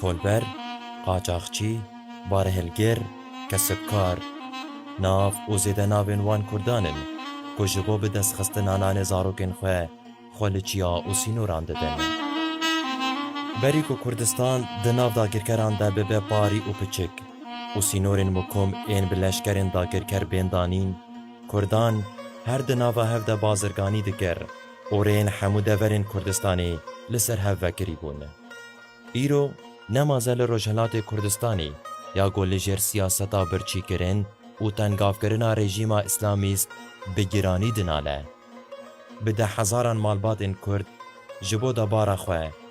Kolber, qaçaxçî, barehilgir, kesibkar, nav û zêde navên wan Kurdan in ku ji bo bi destxistina nanê zarokên xwe, xwe li çiya û sînoran didin. Berî ku Kurdistan di nav dagirkeran de bibe parî û piçik û sînorên mikom ên bi leşkerên dagirker bên danîn, Kurdan her di nava hev de bazirganî dikir û rêyên hemû deverên Kurdistanê li ser hev vekirî bûn. Îro ne maze li Rojhilatê Kurdistanê ya ku li jêr siyaseta birçîkirin û tengavkirina rejîma îslamîst bi giranî dinale. Bi dehezaran malbatên Kurd ji bo debara xwe,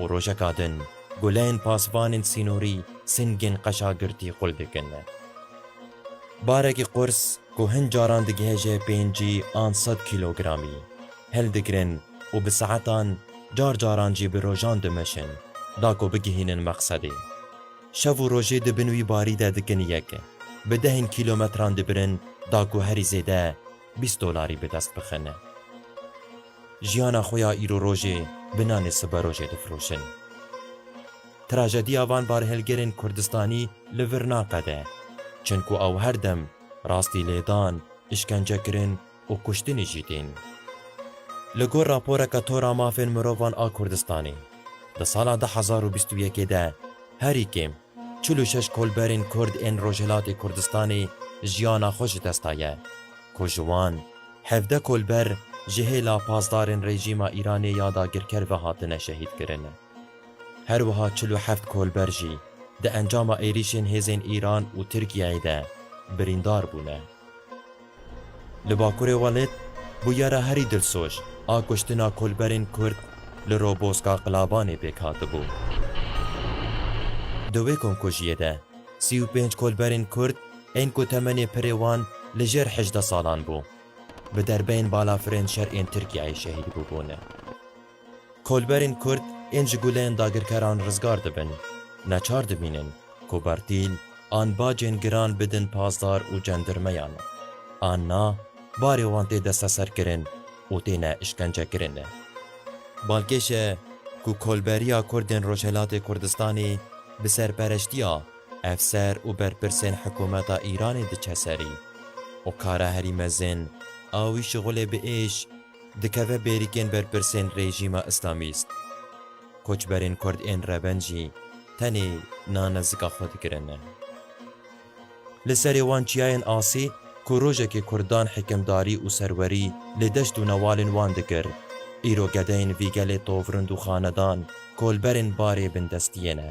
Û rojeka din guleyên pasvanên sînorî singên qeşa girtî xul dikin. Barekî qurs ku hin caran digihêje pêncî an sed kîlogramî, hildigirin û bi saetan, car caran jî bi rojan dimeşin da ku bigihînin mexsedê. Şev û rojê di bin wî barî de dikin yek, bi dehên kîlometran dibirin da ku herî zêde bîst dolarî bi dest bixin. Jiyana xwe ya îrorojê bi nanê siberojê difiroşin. Trajediya van barhilgirên Kurdistanî li vir naqede, çunku ew her dem rastî lêdan, îşkencekirin û kuştinê jî tên. Li gor raporeke Tora Mafên Mirovan a Kurdistanê, di sala du hezar û bîst û yekê de herî kêm çil û şeş kolberên Kurd ên Rojhilatê Kurdistanê jiyana xwe ji dest daye, ku ji wan, Hevdeh kolber ji hêla pasdarên rejîma Îranê ya dagirker ve hatine şehîdkirin. Her wiha çil û heft kolber jî di encama êrîşên hêzên Îran û Tirkiyeyê de birîndar bûne. Li Bakurê Welêt bûyera herî dilsoj a kuştina kolberên Kurd li Roboska Qilabanê pêk hatibû. Di wê komkujiyê de sî û pênc kolberên Kurd Ên ku temenê pirê wan li jêr hejdeh salan bû, bi derbeyên balafirên şer ên Tirkiyeyê şehîd bûbûne. Kolberên Kurd ên ji guleyên dagirkeran rizgar dibin, neçar dibînin ku bertîl an bacên giran bidin pazdar û cendirmeyan, an na barê wan tê desteserkirin û têne îşkencekirin. Balkêş e ku Kolberiya Kurdên Rojhelatê Kurdistanê bi serpereştiya Efser û berpirsên hikûmeta Îranê diçe serî û kara herî mezin a wî şixulê bi êş dikeve bêrîkên berpirsên rejîma îslamîst. Koçberên kurd ên reven jî tenê na nezika xwe dikirin. Li serê wan çiyayên asî ku rojekê kurdan hikimdarî û serwerî li deşt û newalên wan dikir, îro gedeyên vî gelê tovrind û xanedan kolberên barê bindestiyê ne.